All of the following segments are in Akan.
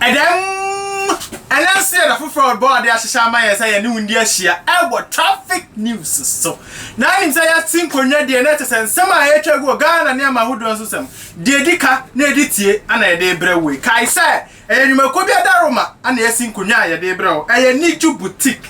Ɛdɛm! Ɛnɛ nso yɛ da foforɔ a ɔbɔ ade ahyehyɛ ama yɛn sɛ yɛne wo ndi ahyia ɛwɔ traffic news so. Na anim sɛ yɛte nkonnwa deɛ na ɛkyɛ sɛ nsɛm a ɛretwa gu wɔ Ghana nneɛma ahodoɔ nso nsɛm deɛ ɛdi ka na ɛdi tie ana yɛde brɛ wo yi. Kae sɛ Ɛyɛ nnwumakuo bi adaroma na yɛasi nkonnwa a yɛde rebrɛ wo. Ɛyɛ Niju Boutique.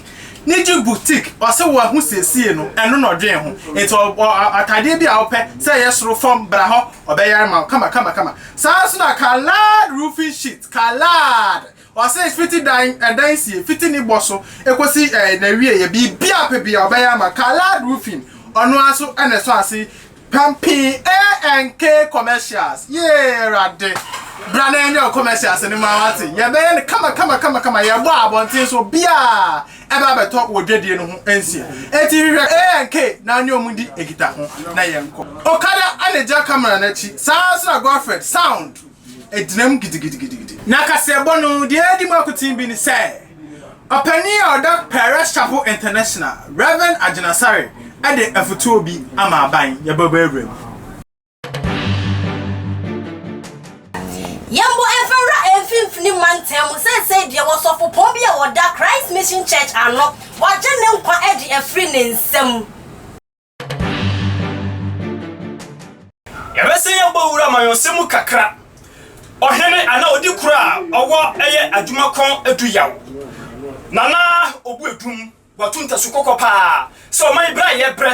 Niju Boutique, ɔse wo ahosiesie no, ɛno na ɔdwen ho. Nti atadeɛ bi a wopɛ, sɛ ɛyɛ soro, fam, bra hɔ, ɔbɛyare ma wo kama kama kama. Saa ara nso na Kalaad Roofing Sheet, Kalaad, ɔse fiti dan, ɛdan sie, fiti ne bɔ so kɔsi n'awieɛ, biribiara wopɛ biara ɔbɛyare ma wo. Kalaad Roofing, ɔno ara nso na ɛsɔ ase Pampii ee NK commercials yee awurade bra na yɛnyɛ wo commercials no ma wate yɛbɛyɛ no kama kama kama kama yɛbɔ abɔnten so biaa ɛba bɛtɔ wɔ dwadie no ho nsia eti hwehwɛ ee NK na ɔne ɔmo di nkita ho na yɛnkɔ. Okada ɛna gya camera no akyi saa nso na Godfred sound. gyinam gidigidigidi. Na kaseɛbɔ no deɛ ɛdi mu akoten bi ne sɛ, ɔpanin a ɔda Parish Chapel International, Rev. Agyen Asare de afotuo bi ama aban, Yɛbɛbɔ awura mu. Yɛmmɔ mfɛwura mfimfini mantam mu seesei deɛ wɔ sɔfopɔn bi a ɔda Christ Mission Church ano, wɔagye ne nkwa de afiri ne nsam. Yɛbɛsan yɛabɔ wura amanyɔsɛm mu kakra. Ɔhene anaa odi koro a ɔwɔ ɛyɛ adwuma kɔn du yaw. Nana obu adum, wato ntasu kɔkɔ paa sɛ ɔman yi bere a yɛbrɛ,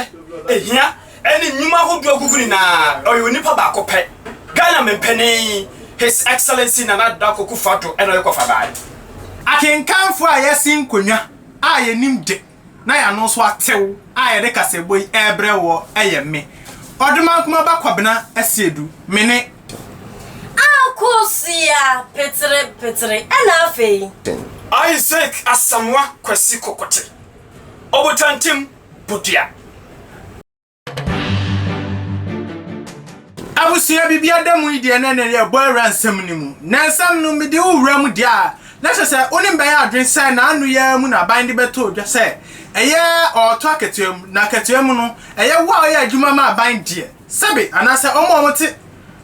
ehia ɛne nnwuma ahodoɔ agugu nyinaa ɔyɛ onipa baako pɛ, Ghana Mempanin His Excellency Nana Addo Dankwa Akufo-Addo ɛna ɔyɛ kɔfa baa yi. Akenkanfoɔ a yɛsen nkonnwa a yɛnim de. na yɛn ano nso atew a yɛde kasaɛbɔ yi rebrɛ woɔ yɛ me, Ɔdomankoma ba Kwabena Asiedu, me ne. Akosua Petere Petere, ɛna afei. Isaac Asamoah Kwasi Kokote, Ɔbotantim Bodua. Abusua biribi ada mu yi deɛ na ɛnɛ yɛbɔ awura nsɛm no mu. Na nsɛm no mede wo wura mu deɛ a, na kyerɛ sɛ wo ne me bɛyɛ adwene sɛ n'ano yi ara mu na aban de bɛto dwa sɛ ɛyɛ ɔɔtɔ akatua mu. Na akatua mu no, ɛyɛ wo a woyɛ adwuma ma aban deɛ, sɛbe, anaasɛ wɔn a wɔte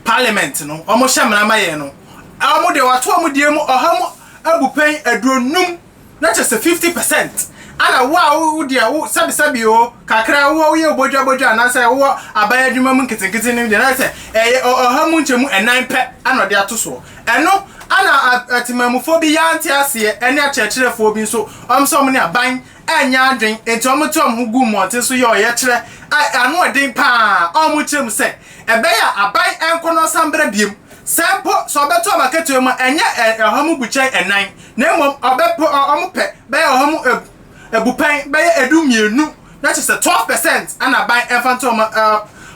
Parliament no, wɔhyɛ mmara ma yɛn no, wɔn deɛ wɔato wɔn deɛ mu ɔha mu abupɛn aduonum na kyerɛ sɛ fifty percent, ɛna wo a wo wo deɛ wo sɛbesɛbe oo, kakra a wowɔ woyɛ obodwabodwa anaasɛ wowɔ aban adwuma mu nketenkete no deɛ na ayɛ sɛ ɛyɛ ɔ ɔha mu nkyɛmu ɛnan pɛ ɛna ɔde ato soɔ. Ɛno ɛna a atemammufoɔ bi yɛ ante aseɛ ɛne akyerɛkyerɛfoɔ bi nso wɔn nso wɔn ne aban ɛnyɛ adwen nti wɔn te wɔn ho gu mmɔnten so yɛ ɔyɛkyerɛ a ano ɛden pa ara a wɔn kyerɛ mu sɛ ɛbɛyɛ a aban ɛnkɔ na ɔsan brɛ biom sɛ mpo sɛ ɔbɛto wɔn akatua mu a ɛnyɛ ɛ ɔha mu bukyɛn ɛnan. Na mmom ɔbɛpo wɔn pɛ bɛyɛ wɔn ho abupɛn bɛyɛ ɛdu mmienu, na kyerɛ sɛ 12 percent na aban mfa nto wɔn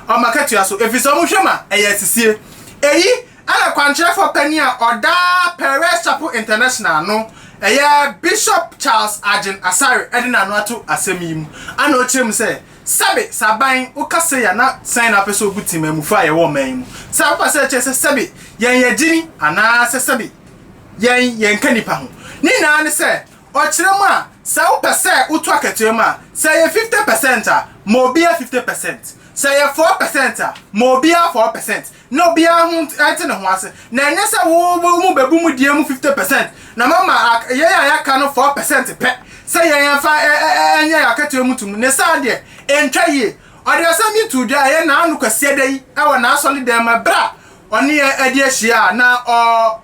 wɔn akatua so, ɛfiri sɛ wɔn hwɛ ma ɛyɛ asisie. Ɛyi na kwankyerɛfoɔ panin a ɔda Perez Chapel International ano, ɛyɛ Bishop Charles Arjen Asare ɛde n'ano ato asɛm yi mu, ana ɔkyerɛ mu sɛ, sɛbe sɛ aban woka sei a na sɛn na wopɛ sɛ wobu temanmufoɔ a yɛwɔ ɔman yi mu, sɛ wofa sɛ ɛkyerɛ sɛ sɛbe yɛn yɛgyeni anaa sɛ sɛbe Yɛn, yɛnka nnipa ho. Ne nyinaa ne sɛ, ɔkyerɛ mu a, sɛ wopɛ sɛ woto akatua mu a, sɛ ɛyɛ fifte pɛsɛnt a, ma obiara fifte pɛsɛnt. Sɛ ɛyɛ fɔɔ pɛsɛnt a, ma obiara fɔɔ pɛsɛnt. Na obiara ho nt, nte ne ho ase. Na ɛnyɛ sɛ wo, wo mu bɛbu mo deɛ mu fifte pɛsɛnt, na moama ak, yɛn a yɛaka no fɔɔ pɛsɛnt pɛ, sɛ yɛn yɛmfa ɛ, ɛ, ɛ, ɛ, nyɛ yɛn akatua mu tom. Ne saa deɛ, ɛntwa yie. Ɔde asɛm yi too dwa ɛyɛ nnaano Kwasiada yi wɔ n'asɔredɛm mu, ɛberɛ a ɔne yɛn adi ahyia a na ɔ,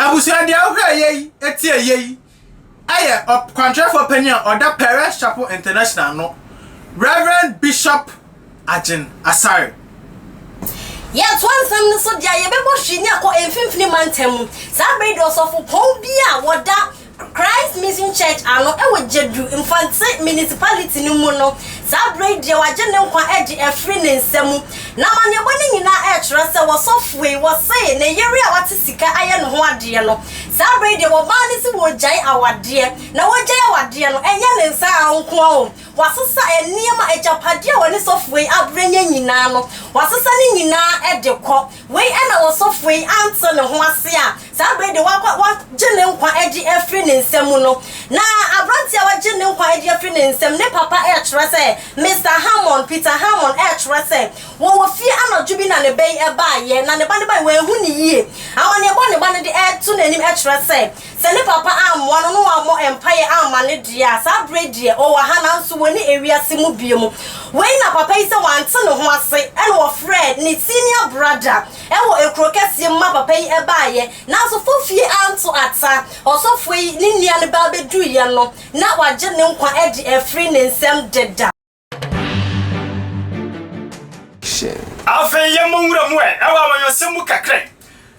Abusua deɛ wohwɛ ɛyɛ yi ɛti ɛyɛ yi ɛyɛ ɔkwankyerɛfoɔ panyin a ɔda Parish Chapel International ano Rev Bishop Agyen Asare. Yɛtoa nsɛm no so deɛ a yɛbɛbɔ hwii ne akɔ mfimfini mantam mu saa bere yi deɛ ɔsɔfopɔn bi a wɔda Christ Mission Church ano wɔ Jedu, Mfantse Municipality no mu no, saa berɛ yi deɛ wɔagye ne nkwa de afiri ne nsa mu. N'amanneɛbɔ no nyinaa rekyerɛ sɛ wɔsɔfoe, wɔsee, ne yere a wate sika ayɛ ne ho adeɛ no, saa berɛ yi deɛ wɔmaa no se wɔregyae awadeɛ. Na wɔregyae awadeɛ no, ɛnyɛ ne nsa ara nko ara o, wɔasesa nneɛma, agyapadeɛ a wɔne sɔfoe abrɛ nya nyinaa no, wɔasesa ne nyinaa de kɔ. Wei na ɔsɔfoɔ yi ante ne ho ase a saa berɛ yi deɛ wɔakɔ wɔagye ne nkwa agye afiri ne nsa mu no. Na aberanteɛ a wɔagye ne nkwa agye afiri ne nsam ne papa rekyerɛ sɛ, Mister Hammond, Peter Hammond, rekyerɛ sɛ wɔwɔ fie anadwo bi na ne ba yi baeɛ na ne ba no baeɛ wɔanhu no yie. Amanneɛbɔ a ne ba no de reto n'anim kyerɛ sɛ, Sɛ ne papa ammoa no na wammɔ mpaeɛ amma no deɛ a, saa berɛ yi deɛ ɔwɔ ha nanso wɔnni ewiase mu bio mu. Wei na papa yi sɛ wante ne ho ase na ɔfrɛɛ ne senior brother wɔ ekuro kɛseɛ mu ma papa yi baeɛ nanso fofie anto ata. Ɔsɔfoɔ yi ne nua no ba bɛduruiɛ no na wagye ne nkwa de afiri ne nsam deda. Afei yɛmmɔ nwura mu ɛ ɛwɔ amanyɔsɛm mu kakra yi.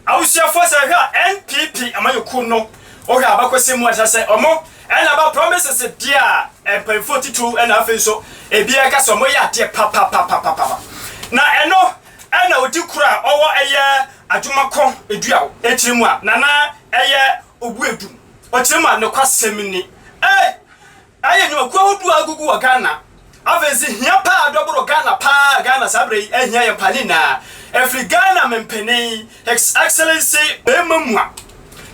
Awosuafoɔ sɛ hwɛ a NPP amanyɔkuo no wohwɛ a abakɔsɛm mu a kyerɛ sɛ ɔmo ɛna aba promises deɛ a mpaninfoɔ titiriw ɛna afei nso ebiara ɛka sɛ ɔmo yɛ adeɛ papapapapapa na ɛno ɛna odi koro a ɔwɔ ɛyɛ adwumakɔ edua o ekyiri mu a nana ɛyɛ obu edum ɔkyiri mu a nokwasɛm ni ee Ayɛ nnwumakuo ahodoɔ a agugu wɔ Ghana. Afei nso hia paa a dɔ boro Ghana paa a Ghana saa berɛ yi ahia yɛn paa ne nyinaa ɛfiri Ghana Mempene His Excellency Bɛɛma Mua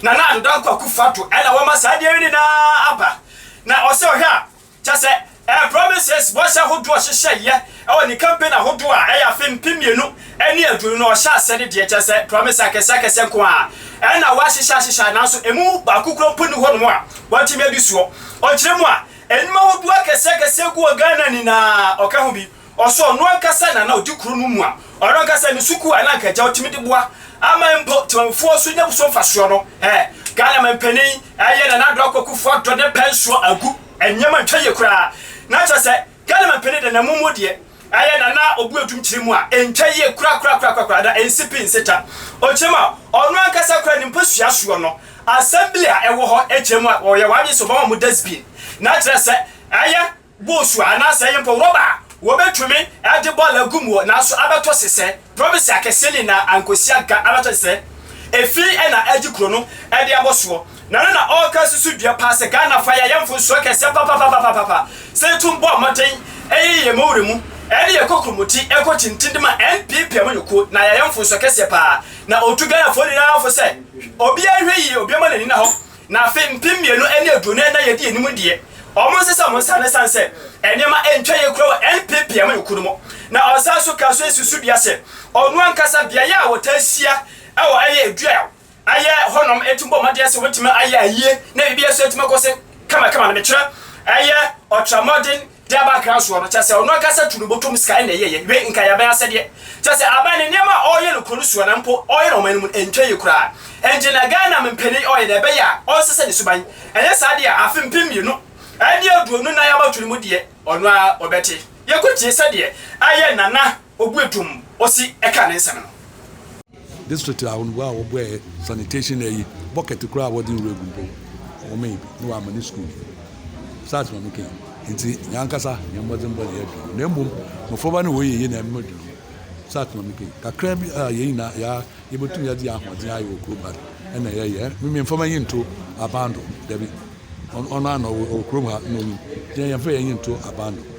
Nana Addo Dankwa Akufo Addo ɛna wɔma saa adeɛ yi nyinaa aba na ɔsɛ ɔhwɛ a kyɛsɛ ɛɛ promises bɔhyɛ ahodoɔ ɔhyehyɛeɛ Wɔ ne campaign ahodoɔ a ɛyɛ afe mpem mmienu ne aduonu no ɔhyɛ aseɛ no deɛ kyerɛ sɛ promise akɛseɛ akɛseɛ nko ara na wahyehyɛ ahyehyɛ nanso ɛmu baako kura mpo ni hɔnom a watumi adi soɔ. Ɔkyerɛ mu a, nnwuma ahodoɔ akɛseɛ akɛseɛ gu wɔ Ghana nyinaa ɔka ho bi ɔsɛ ɔno ankasa na na ɔdi kuro no mu a ɔno ankasa ne sukuu a na anka agya ɔtumi de boa aman mpo temamufoɔ so nya so mfasoɔ no ɛ Ghana mampanin ɛyɛ Nana Addo Akwa Kufuor Addo ne pɛn soɔ agu nneɛma ntwa yie koraa na kyerɛ sɛ Galiman pene da na mu mu deɛ ɛyɛ na na ɔbu adum kyerɛ mu a ɛntwa yie korakorakorakorakoraa da ɛnsi pi nsi ta. Ɔkyerɛ mu a ɔno ankasa koraa ne mpo sua soɔ no assembly a ɛwɔ hɔ kyerɛ mu a wɔyɛ wɔn adwene sɛ wɔbɛma mo dustbin na akyerɛ sɛ ɛyɛ boosu a anaasɛ ɛyɛ mpo rɔba a wɔbɛtumi de bɔɔl agu muo nanso abɛtɔ sesɛɛ. Province akɛseɛ no nyinaa ankosia ga ara kyɛre sɛ efi na ɛregye kuro no de abɔ soɔ. Na no na ɔreka susu dua paa sɛ Ghanafoɔ ayɛ ayɛ mfonsoɔ kɛseɛ papapapapapa sɛ yɛtum bɔ mmɔden yɛ yɛn mawura mu ne yɛn kokromoti kɔ tintin de ma NPP amanyɔkuo na yɛayɛ mfonsoɔ kɛseɛ paa na ɔretu Ghanafoɔ nyinaa fo sɛ obiara nhwɛ yie obiara ma n'ani nna hɔ Na afe mpem mmienu ne aduonu ɛna yɛdi anim deɛ, wɔn nsesa wɔn nsa no ɛsan sɛ nneɛma ɛntwa yie koraa wɔ NPP amanyɔkuo no mu. Na ɔsan nso kaa so si so dua sɛ ɔno ankasa beaeɛ a wɔtaa hyia wɔ ɛyɛ dua a ayɛ hɔ nom ɛtumi bɔ mmɔden sɛ wɔbɛtumi ayɛ ayie na biribiara nso atumi akɔ so kamakama no mekyerɛ ɛyɛ ɔtramɔden De aba akra soɔ no, kyerɛ sɛ, ɔno ankasa tu ne bɔtɔ mu sika na ɛyɛeɛ, we nka yɛ aban asɛdeɛ. Kyerɛ sɛ, aban no nneɛma a ɔreyɛ no kuro no soɔ na mpo ɔreyɛ no ɔman no mu no ntwa yie koraa. Enti na Ghana mpanin ɔyɛ deɛ ɛbɛyɛ a ɔnsesa ne suban. Ɛnyɛ saa deɛ a, afe mpem mmienu ne aduonu nnan abatoɔ no mu deɛ, ɔno ara ɔbɛte. Yɛnkɔtie sɛdeɛ ɛyɛ Nana. obue tumm osi ɛkaa ne nsɛm no. District ahorow a wɔboɛɛ sanitation ayi bɔkɛt koraa a wɔde nwura gu mpo wɔmee bi na wɔama no sukuu. Saa asɛm a meka yi nti nyɛ ankasa yɛn mmɔdenbɔ na yɛadu no na mmom mmofraba no wɔyɛ yiye na ɛma wɔadu no. Saa asɛm a meka yi kakraa bi a yɛn nyinaa yɛa yebetumi de yɛn ahoɔden ayɛ wɔ kurom ha no ɛna yɛyɛ. Ɛn me mfama yi nto aban do, dabi. Ɔno ara na ɔwɔ kurom ha na onim. Yɛn yɛmfa yɛn yi nto aban do.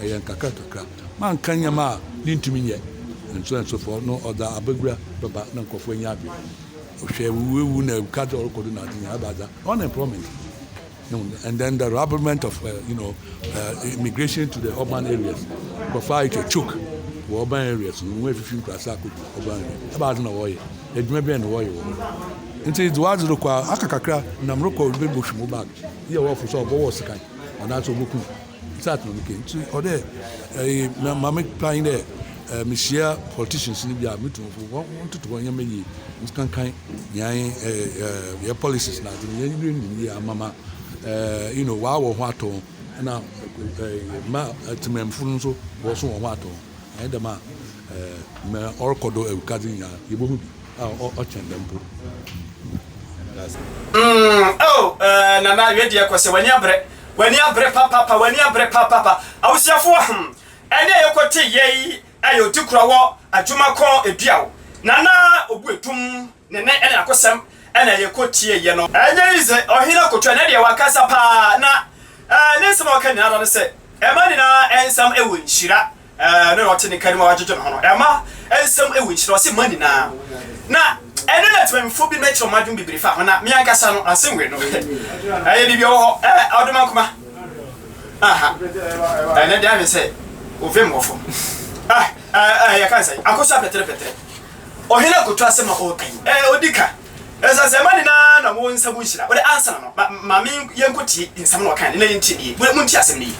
Ɛyɛ nkakrankakra ma nka nneɛma a yentumi nyɛ. Nsoɛnsofo no ɔdɔ abagura bɛba na nkurɔfo anya adwene. Ɔhwɛ awuwuawu na ɛka dɛ ɔrekɔ do n'adze nyina aba dza unemployment and then the rabblement of uh, you know, uh, immigration to the urban areas. Nkurɔfo ayɛ kɛ choke wɔ urban areas no, wɔn afifi nkurasa akɔdu urban areas. Ɛba adze na wɔyɛ, adwuma bɛn na wɔyɛ wɔ hɔ. Nti dze wadze rekɔ a, aka kakra, nam rekɔ bɛbɛhwim wo bag, yɛ wɔfo sɛ ɔbɔwɔ sekan anaasɛ ɔbɔkum. Exactly no ke nti ɔdɛ ɛyi eh, ma me plan dɛ eh, mehyia politicians no bi a metu wɔn fo wɔn toto wɔn nneɛma yie nkankan yɛn eh, eh, yɛn policies na adze no yɛn yɛn nim yie amama eh, you know wɔawɔ ho atɔ na eh, ma eh, temamufoɔ no nso wɔso wɔn ho atɔ Annyɛ dɛm a, mbrɛ ɔrokɔ do wiadze nyina, yebohu bi a ɔkyɛn dɛm mpo. Dase. Mm oh eh Nana awie deɛ kɔ sɛ w'ani abrɛ w'ani abrɛ papaapa w'ani abrɛ papaapa Awosuafoɔ hmm ɛnɛ a yɛkɔ te yɛ yi ayɛ ɔtikura wɔ adwuma kɔn ɛdua o Nana obu ɛdum Ne nne ne n'akosɛm na yɛkɔ tieeɛ no. Ɛnyɛ yi dze ɔhen akotua ne deɛ wakasa paa na ne nsɛm a ɔka nyinaa da no sɛ ɛma nyinaa nsɛm wɔ nhyira ɛno na ɔte ne ka no mu a wadwedwe ne ho no ɛma nsɛm wɔ nhyira ɔse ma nyinaa na ɛno na temamufoɔ binom akyerɛ wɔn adwene bebree fa ho na me ankasa no asɛmwe no ɛyɛ biribi ɛwɔ hɔ ɛɛ ɔdoma nkoma aha ɛnɛ deɛ ahwɛ sɛ ovem wɔ fam ah ɛɛ yɛka nsɛn akosi apɛtere pɛtere Ɔhene akoto asɛm a ɔreka yi, ɛɛ, ɔdi ka. Ɛsiane sɛ mma nyinaa na wɔwɔ nsa mu nhyira. Wode ansa na no, ma, ma me, yɛnkɔtie nsɛm no a ɔkae no, na yɛntie no yie. Mo, montie asɛm no yie.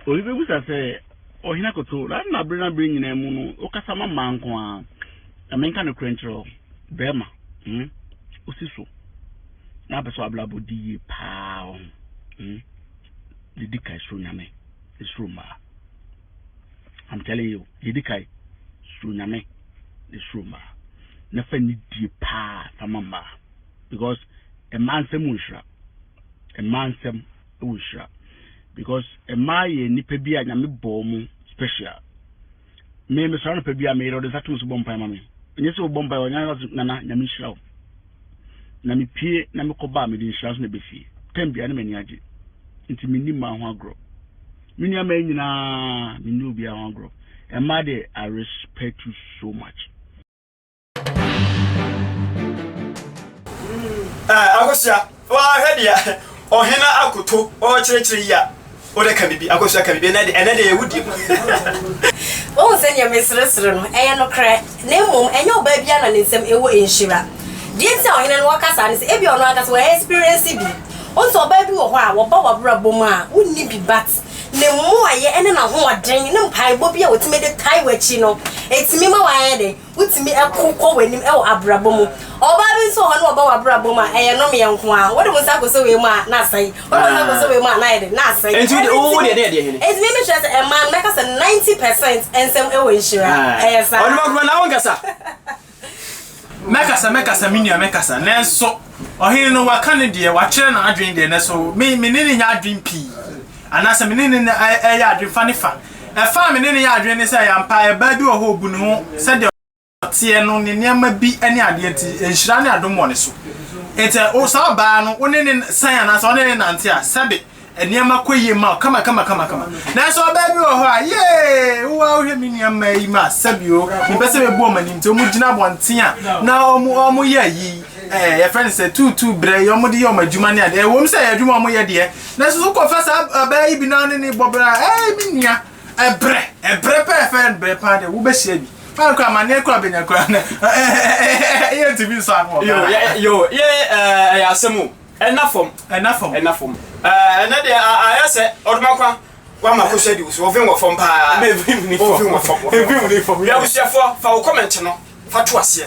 Obi bɛbisa sɛ, Ɔhene akoto, adɛn na bere ne bere nyinaa mu no, wokasa ma mmaa nko ara? Ma menka nokorɛ nkyerɛ wo, barima, hmm, wosi so, na wopɛ sɛ w'abrabɔ di yie paa, wahu, hmm, na di kan suro Nyame, nsuro mmaa. I'm telling you, deɛ ɛdi kan, suro Nyame na suro mmaa na fa nidie paa fa ma mmaa because mmaa nsɛm wɔ nhyira. Mmaa nsɛm wɔ nhyira because mmaa yɛ nnipa bi a Nyame bɔɔ mu special. Me mesɔre anɔpa bi a meyere ɔde nsa to me so bɔ mpae ma me. Ɛnyɛ sɛ wɔbɔ mpae ɔnyɛ nana Nyame nhyira wo. Na mipue na mekɔba a, mede nhyira nso na ɛba fie. Tɛm biara, na m'ani agye. Enti minni mmaa ho agorɔ. Me nuammaa yi nyinaa, minni obiara ho agorɔ. Mmaa deɛ, I respect you so much. Akosua, woahwɛ deɛ Ɔhene Akoto ɔrekyerɛkyerɛ yi a? Wode ka biribi, akosua ka biribi, ɛnɛ de, ɛnɛ de ɛyɛ wodi mu. Wohu sɛ nea meseresere no, ɛyɛ nokorɛ, na mmom ɛnyɛ ɔbaa biara na ne nsam ɛwɔ nhyira. Deɛ enti a ɔhene no ɔka saa ne sɛ ebia ɔno ankasa wa experience bi. Wohu sɛ ɔbaa bi wɔ hɔ a wɔba w'abrabɔ mu a wonni bi but ne mmoayɛ ne n'ahoɔden ne mpaebɔ bi a wɔtumi de tae w'akyi no, ɛtumi ma w'ayɛ dɛn? Wotumi ko kɔ w'anim wɔ abrabɔ mu. Ɔbaa bi nso wɔ hɔ na ɔba w'abrabɔ mu a, ɛyɛ nnomeɛ nko ara. Wode wo nsa kɔsɔ wei mu a, na asɛe. Wode wo nsa kɔsɔ wei mu a, na ayɛ dɛ, na asɛe. Enti wo deɛ, wo deɛ ɛdeɛn yɛ deɛ hene? Enti me mekyerɛ sɛ mmaa no, mɛka sɛ ninety percent nsɛm wɔ nhyira. Ɛyɛ saa. Ɔnimɔkorɔ na wonkasa. Mɛkasa, mɛkasa, me nua, mɛkasa, nanso Ɔhene no, waka ne deɛ, wakyerɛ n'adwene deɛ, nanso me, me ne no nyɛ adwene pii, anaasɛ me ne no yɛ adwene fa ne fa. Ɛfa a me ne no yɛ adwene ne sɛ, ɛyɛ ampa, ɛbaa bi wɔ hɔ a ɔbu ne ho sɛdeɛ ɔteɛ no, ne nneɛma bi ne adeɛ nti, nhyira ne adom wɔ ne so. Enti, saa ɔbaa no, wo ne no san anaasɛ wo ne no nante a, sɛbe, nneɛma kɔ yie ma kama kama kama kama nanso ɔbaa bi wɔ hɔ a yee wowa wohwɛ me nneɛma yi ma sɛbio mepɛ sɛ bɛbu ɔm anim nti ɔmu gyina abɔnten a na ɔmu ɔmu yɛ yi ɛɛ yɛfrɛ no sɛ tuutuu brɛ yi ɔmu de yɛ ɔm adwuma ne adeɛ ɛwɔ mu sɛ yɛ adwuma ɔmu yɛ deɛ nanso so kɔfa saa ɔbaa yi bi na ɔne ne bɔ brɛ a ɛɛ me nua ɛbrɛ ɛbrɛ pɛɛfɛɛ brɛ paa deɛ wobɛhyia bi fáwọn kura ma ne kura benya kura ne ɛyɛ ntumi nsọ ano wɔ ghana. yo yo yɛ ɛyɛ asɛm o. Ɛna fam, ɛna fam, ɛna fam. Ɛɛ, ɛnɛ deɛ a, ayɛ sɛ ɔdomankwa wama ko hyɛ di wo so, ɔvem wɔ fam paa. Ɛna evem ne fam. Ɔvem wɔ fam, ɔvem wɔ fam. Fam, yeah. Abusuafoɔ, fa wo comment no fa to aseɛ.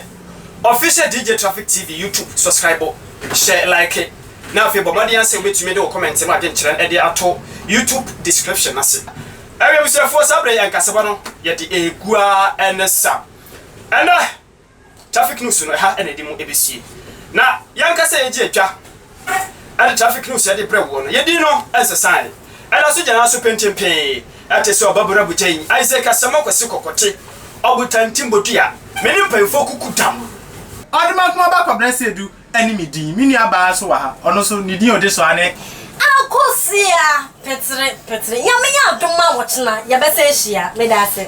Official DJ Traffic TV YouTube, subscribe, hyɛ like, na afei bɔ mmɔden asɛ wobɛtumi de wo comment no adwenkyerɛ ɛde ato YouTube description no ase. Ɛwɛ abusuafoɔ, saa berɛ yɛ nkasɛbɔ no yɛde ɛgu ara ɛne sa. Ɛnɛ. Traffic news no ɛha na yɛde mu ɛbɛsie. Na yɛn ankasa yɛgye atwa ɛde traffic news yɛde brɛ woɔ no, yɛn din no ɛnsesaeɛ, ɛda so gyina ara so pentenpee, ɛte sɛ Ɔbabura Botayi, Isaac Asamoah Kwasi Kɔkɔte, Ɔbotantim Bodua, me ne mpanyinfoɔ kuku dam. Ɔde ma nkomaba kɔbrɛ sɛ du, ne me din. Me nua baa nso wɔ ha, ɔno nso ne din a ɔde soa ne. Akosua Petre Petre. Nyame yɛ adom a ɔkyena yɛbɛsan ahyia. Meda ase.